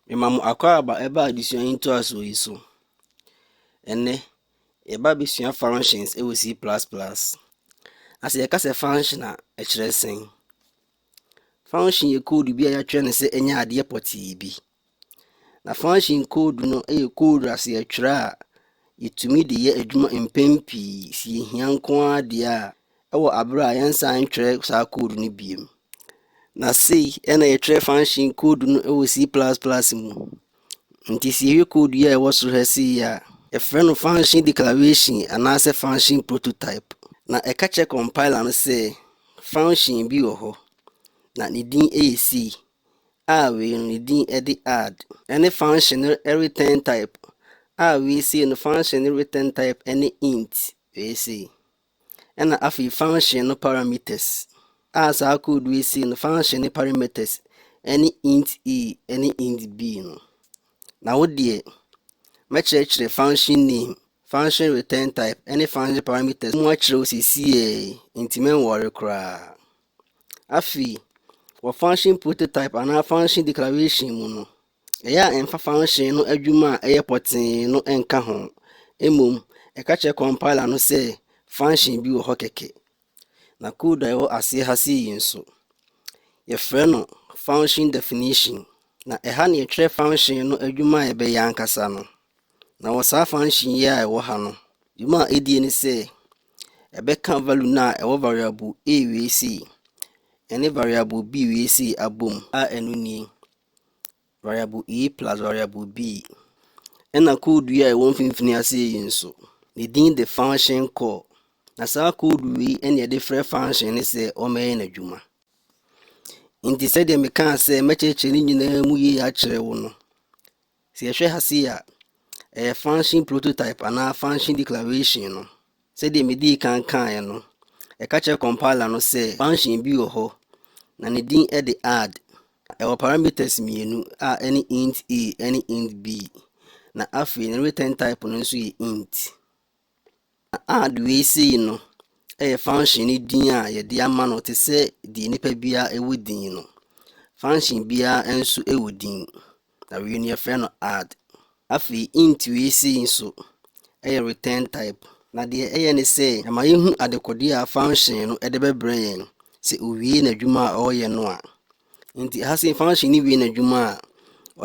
Mema mo akwaaba ɛba adesua yi ntoasoɔ yi so. Ɛnɛ, yɛba abɛsua functions ɛwɔ C++. Na sɛ yɛka sɛ function a, ɛkyerɛ sɛn? Function yɛ code bi a yɛatwerɛ no sɛ ɛnyɛ adeɛ pɔtee bi. Na function code no yɛ code a sɛ yɛtwerɛ a, yɛtumi de yɛ adwuma mpɛn pii sɛ yɛhia nko ara deɛ a wɔ aber a yɛnnsan nnkyerɛ saa code no bio. Na sei na yɛtwerɛ function code no wɔ C++ mu. Nti sɛ yɛhwɛ code yi a ɛwɔ soro ha sei a, yɛfrɛ no function declaration anaasɛ function prototype. Na ɛka kyerɛ compiler no sɛ function bi wɔ hɔ, na ne din yɛ C, a wei no ne din de add. Ɛne function no return type, a wei sei no function no return type ne int, wei sei. ɛna afei function no parameters a saa code wei sei no function ne parameters ɛne int a ɛne int b no na wo deɛ mɛkyerɛkyerɛ function name function return type ɛne function parameters mu akyerɛ wo sɛsiɛ nti mɛnwɔre koraa afei wɔ function prototype anaa function declaration mu no Ɛyɛ a ɛmfa fanhyee no adwuma a ɛyɛ pɔtee no nka ho. Mmom, ɛka kyerɛ compiler no sɛ function bi wɔ hɔ kɛkɛ. Na code a ɛwɔ aseɛ ha sei yi nso, yɛfrɛ no function definition. Na ɛha na yɛtwerɛ function no adwuma a ɛbɛyɛ ankasa no. Na wɔ saa function yi a ɛwɔ ha no, dwuma a ɛdie ne sɛ, ɛbɛka value no a ɛwɔ variable a wei sei ɛne variable b wei sei abom a ɛno nie. Variable A plus variable B. Ɛna code yi a ɛwɔ mfimfini ase yi nso, ne din de function call. Na saa code wei ɛna yɛde frɛ function ne sɛ ɔmɛyɛ n'adwuma. Nti sɛdeɛ mekaa sɛ mɛkyerɛkyerɛ ne nyinaa mu yie akyerɛ wo no, Sɛ yɛhwɛ ha sei a, ɛyɛ function prototype anaa function declaration no. Sɛdeɛ medii kan kaeɛ no, ɛka kyerɛ compiler no sɛ function bi wɔ hɔ, na ne din de add. Ɛwɔ parameters mmienu a ɛne int a ne int b, na afei ne return type no nso yɛ int. Add wei sei no yɛ function no din a yɛde ama no te sɛ deɛ nipa biara wɔ din no. Function biara nso wɔ din, na wei no yɛfrɛ no add. Afei int wei sei nso yɛ return type. Na deɛ ɛyɛ ne sɛ ɛma yɛhu adekodeɛ a function no de bɛbrɛ yɛn sɛ owie n'adwuma a ɔreyɛ no a. Nti ha sɛ function no wie n'adwuma a,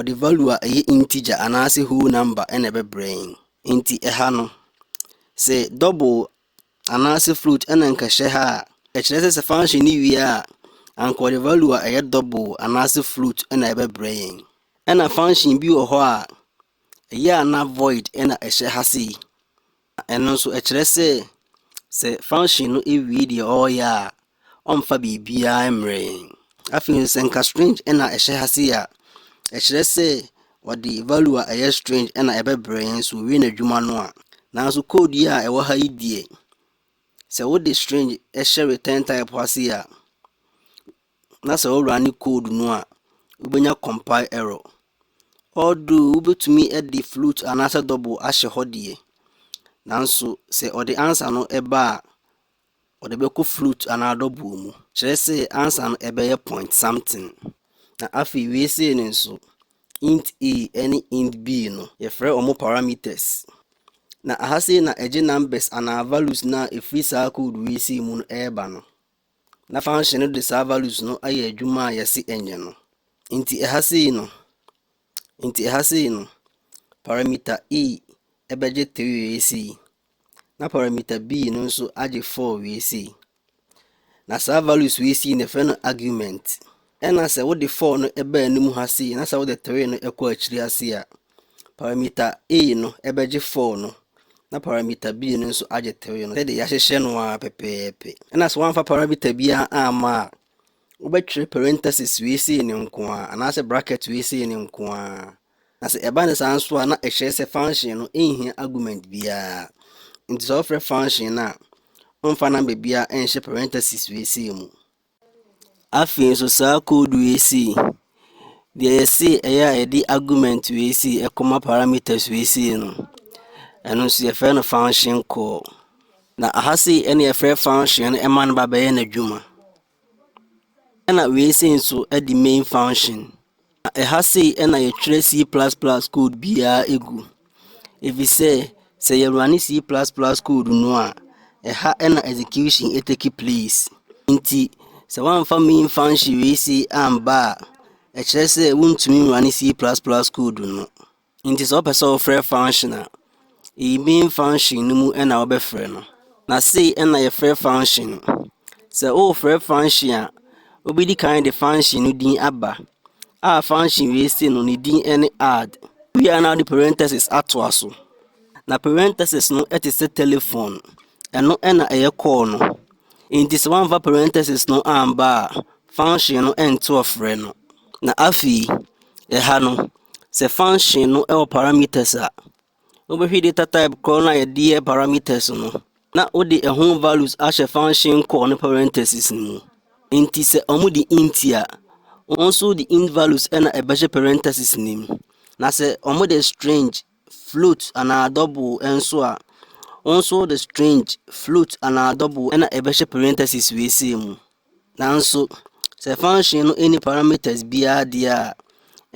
ɔde value a ɛyɛ integer anaasɛ whole number na ɛbɛbrɛ yɛn. Enti ɛha no, se double anaase float na nka ɛhyɛ ha a, ɛkyerɛ sɛ sɛ function no wie a, anka ɔde value a ɛyɛ double anaase float na ɛbɛbrɛ yɛn. Ɛna function bi wɔ hɔ a, ɛyɛ a na void na ɛhyɛ ha sei. Ɛno nso ɛkyerɛ sɛ sɛ function no wie deɛ ɔreyɛ a, ɔmmfa biribiara mmrɛ yɛn. Afei nso sɛ nka strange na ɛhyɛ ha sei a, ɛkyerɛ sɛ wɔde value a ɛyɛ strange na ɛbɛbrɛ yɛn so owie n'adwuma no a. Nanso code yi a ɛwɔ ha yi deɛ, sɛ wode strange hyɛ return type ha sei a, na sɛ wo run code no a, wobɛnya compile error. Although wobɛtumi de float anaasɛ double ahyɛ hɔ deɛ, nanso sɛ ɔde answer no ba a, Wɔde bɛkɔ flute anaa dɔboɔ mu. Kyerɛ sɛ ansa no ɛbɛyɛ point something. Na afei wei sei no nso, int a ɛne int b no, yɛfrɛ wɔn parameters. Na aha sei na ɛgye numbers anaa values no a ɛfiri saa code wei sei mu no ɛreba no. Na function no de saa values no ayɛ adwuma a yɛse ɛnyɛ no. Nti ɛha sei no, nti ɛha sei no, parameter e ɛbɛgye 3 wei sei, na parameter B no nso agye 4 wie sei. Na saa values wei sei na ɛfrɛ no argument. Ɛna sɛ wode 4 no ɛbaa anim ha sei na sɛ wode 3 no ɛkɔ akyiri ase a, parameter A no ɛbɛgye 4 no na parameter B no nso agye 3 no sɛdeɛ yɛahyehyɛ no ara pɛpɛɛpɛ. Ɛna sɛ woamfa parameter biara amma a, wobɛtwerɛ parenthesis wei sei no nko ara anaasɛ bracket wei sei no nko ara. Na sɛ ɛba no saa nso a na ɛkyerɛ sɛ function no nhia argument biara. Nti sɛ wofrɛ function no a, mfa number biara nhyɛ parenthesis wei sei mu. Afei nso saa code wei sei, deɛ yɛse ɛyɛ a yɛde argument wei sei ɛkɔma parameters wei sei no, ɛno nso yɛfrɛ no function call. Na aha sei ɛne yɛfrɛ function no ɛma no ba bɛyɛ n'adwuma. Ɛna wei sei nso ɛde main function na ɛha sei ɛna yɛtwerɛ C++ code biara ɛgu ɛfiri sɛ sɛ yɛ running C++ code no a ɛha ɛna execution ɛtake place nti sɛ woamfa main function wei sei amba a ɛkyerɛ sɛ wontumi running C++ code no. Nti sɛ wopɛ sɛ wofrɛ function a, eyi main function no mu na wobɛfrɛ no. Na sei na yɛfrɛ function no. Sɛ wofrɛ function a, wobɛdi kan de function no din aba a function wei se no ne din ne add. Wia na wode parenthesis atoa so. Na parenthesis no te sɛ telephone. Ɛno na ɛyɛ call no. Nti sɛ woamfa parenthesis no amba a, function no ɛnte ɔfrɛ no. Na afei, ɛha no, sɛ function no wɔ parameters a, wobɛhwɛ data type korɔ no a yɛde yɛ parameters no, na wode ɛho values ahyɛ function call no parentheses no mu. Nti sɛ wɔde int a, wɔn nso de int values na ɛbɛhyɛ parentheses no mu. Na sɛ wɔde string, float anaa double nso a, wɔn nso de string, float anaa double na ɛbɛhyɛ parentheses wei sei mu. Nanso, sɛ function no nni parameters biara deɛ a,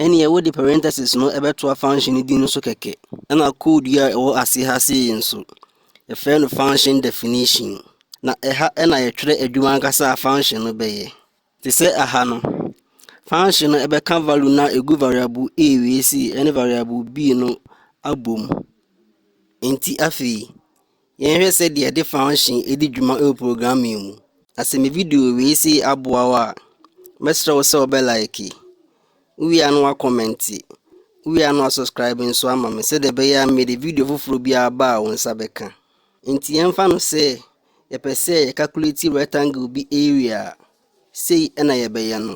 ɛnneɛ wode parentheses no bɛtoa function no din no so kɛkɛ. Na code yi a ɛwɔ ase ha sei nso, yɛfrɛ no function definition. Na ɛha na yɛtwerɛ adwuma ankasa a function no bɛyɛ. Te sɛ aha no, function no ɛbɛka value no a ɛgu variable a wei sei ne variable b no abom. Nti afei, Yɛnhwɛ sɛdeɛ yɛde function di dwuma wɔ programming mu. Na sɛ me video wei sei aboa wo a, mɛsrɛ wo sɛ wobɛ like, wowie a na woakɔmmɛnte, wowie a na woasubscribe nso ama me sɛdeɛ ɛbɛyɛ a mede video foforɔ biara ba a wo nsa bɛka. Nti yɛmfa no sɛ yɛpɛ sɛ yɛcalculate rectangle bi area a, sei na yɛbɛyɛ no.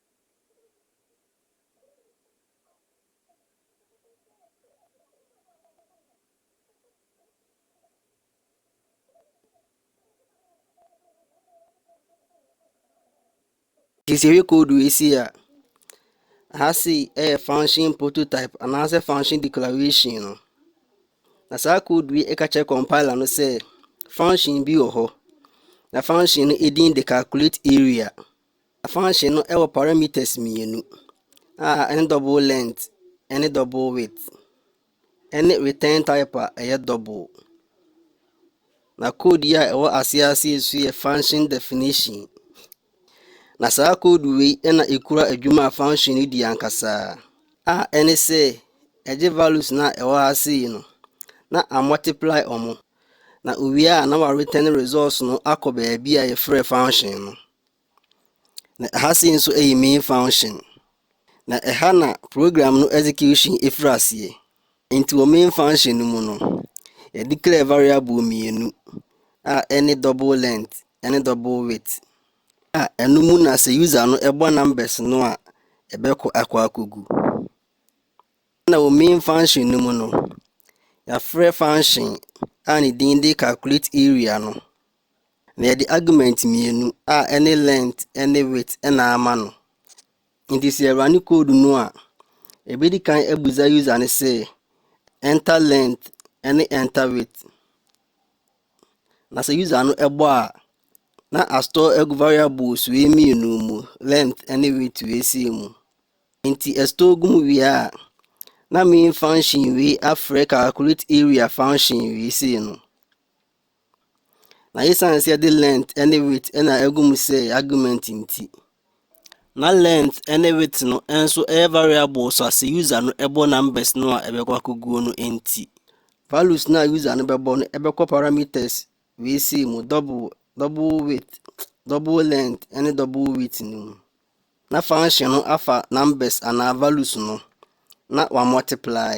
Nti sɛ yɛhwɛ code wei sei a, ha sei yɛ function prototype anaasɛ function declaration no. Na saa code wei ɛka kyerɛ compiler no sɛ function bi wɔ hɔ. Na function no edin de calculate area. Afahyɛ no wɔ parameters mmienu a ɛne double length ne double width ne return type a ɛyɛ double. Na code yi a ɛwɔ ase ase yi nso yɛ function definition. Na saa code wei na ɛkura adwuma a function no di ankasa a ɛne sɛ ɛgye values no a ɛwɔ ha ase yi no na a multiply wɔn na owie a na wa return results no akɔ baabi a yɛfrɛ function no. Na ɛha sei nso ɛyɛ main function. Na ɛha na program no execution ɛfiri aseɛ. Nti wɔ main function no mu no, yɛdeclare variable mmienu a ɛne double length ɛne double width a ɛno mu na sɛ user no ɛbɔ numbers no a ɛbɛkɔ akɔ akɔgu. Na wɔ main function no mu no, yɛafrɛ function a ne din de calculate area no Na yɛde argument mmienu a ɛne length ne width na ama no. Nti sɛ yɛrane code no a, ɛbɛdi kan abusa user no sɛ enter length ne enter width. Na sɛ user no ɛbɔ a, na astore agu variables wei mmienu mu, length ne width wei sei mu. Nti ɛstore gu mu wie a, na main function wei afrɛ calculate area function wei sei no. Na esiane sɛ yɛde lent ne wheat na agu mu sɛ argument nti, na lent ne wheat no nso yɛ variable so ase user no bɔ numbers no a ɛbɛkɔ akɔguo no nti. Values no a user no bɛbɔ no ɛbɛkɔ parameters wei sei mu double double width double length ne double width no mu na function no afa numbers anaa values no na wa multiply.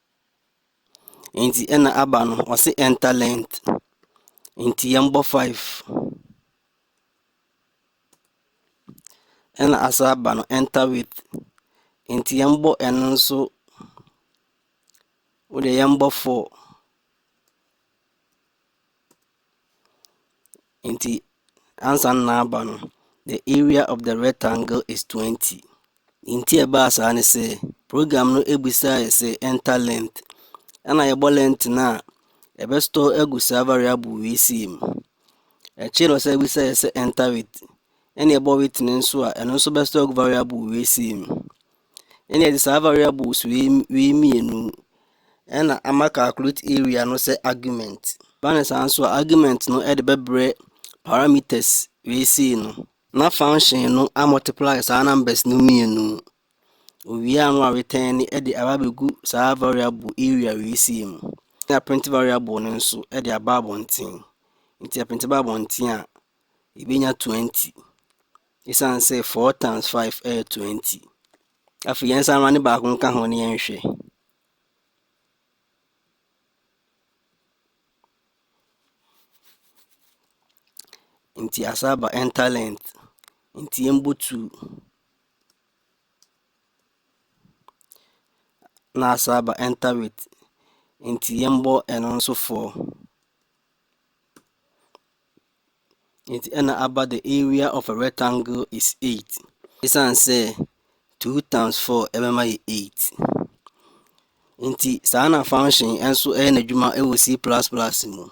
Nti ɛna aba no ɔse enter length. Nti yɛmbɔ 5. Ɛna asa aba no enter width. Nti yɛmbɔ ɛno nso wodeɛ yɛmbɔ 4. Nti ansa na aba no, the area of the rectangle is 20. Nti a ɛbaa saa ne sɛ, program no bisaeɛ sɛ enter length. Ɛna yɛbɔ length no a, ɛbɛ store agu saa variable wei sei mu. Akyire no sɛ bisaeɛ sɛ enter width. Ɛna ɛbɔ width no nso a, ɛno nso bɛ store agu variable wei sei mu. Ɛna yɛde saa variables wei wei mmienu ɛna ama calculate area no sɛ argument. Ba ne saa nso a argument no ɛde bɛbrɛ parameters wei sei no na function no a multiply saa numbers no mmienu. Owie ano a return ne ɛde aba bɛgu saa variable area wei sei mu. Na print variable no nso ɛde aba abɔnten. Nti a print aba abɔnten a yɛbɛnya 20. Ɛsiane sɛ four times five ɛyɛ twenty. Afei yɛn nsa ne baako nka ho ne yɛn hwɛ. Nti asaba enter length. Nti yɛn bɔ two. Na asaba enter width. Nti yɛn bɔ ɛno nso four. Enti ɛna aba the area of a rectangle is eight. Esiane sɛ two times four ɛbɛma yɛ eight. Enti saa na function nso ɛyɛ n'adwuma ɛwɔ C plus plus mu.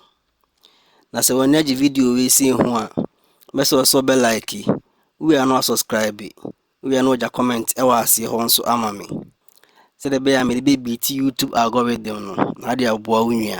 Na sɛ wɔn agye video wei si ho a, bɛsɛ ɔsɔ bɛ like, wia no asubscribe, wia no ɔgya comment ɛwɔ aseɛ hɔ nso ama me. Sɛdeɛ ɛbɛyɛ a mede bɛ beat YouTube algorithm no na ade aboa wo nua.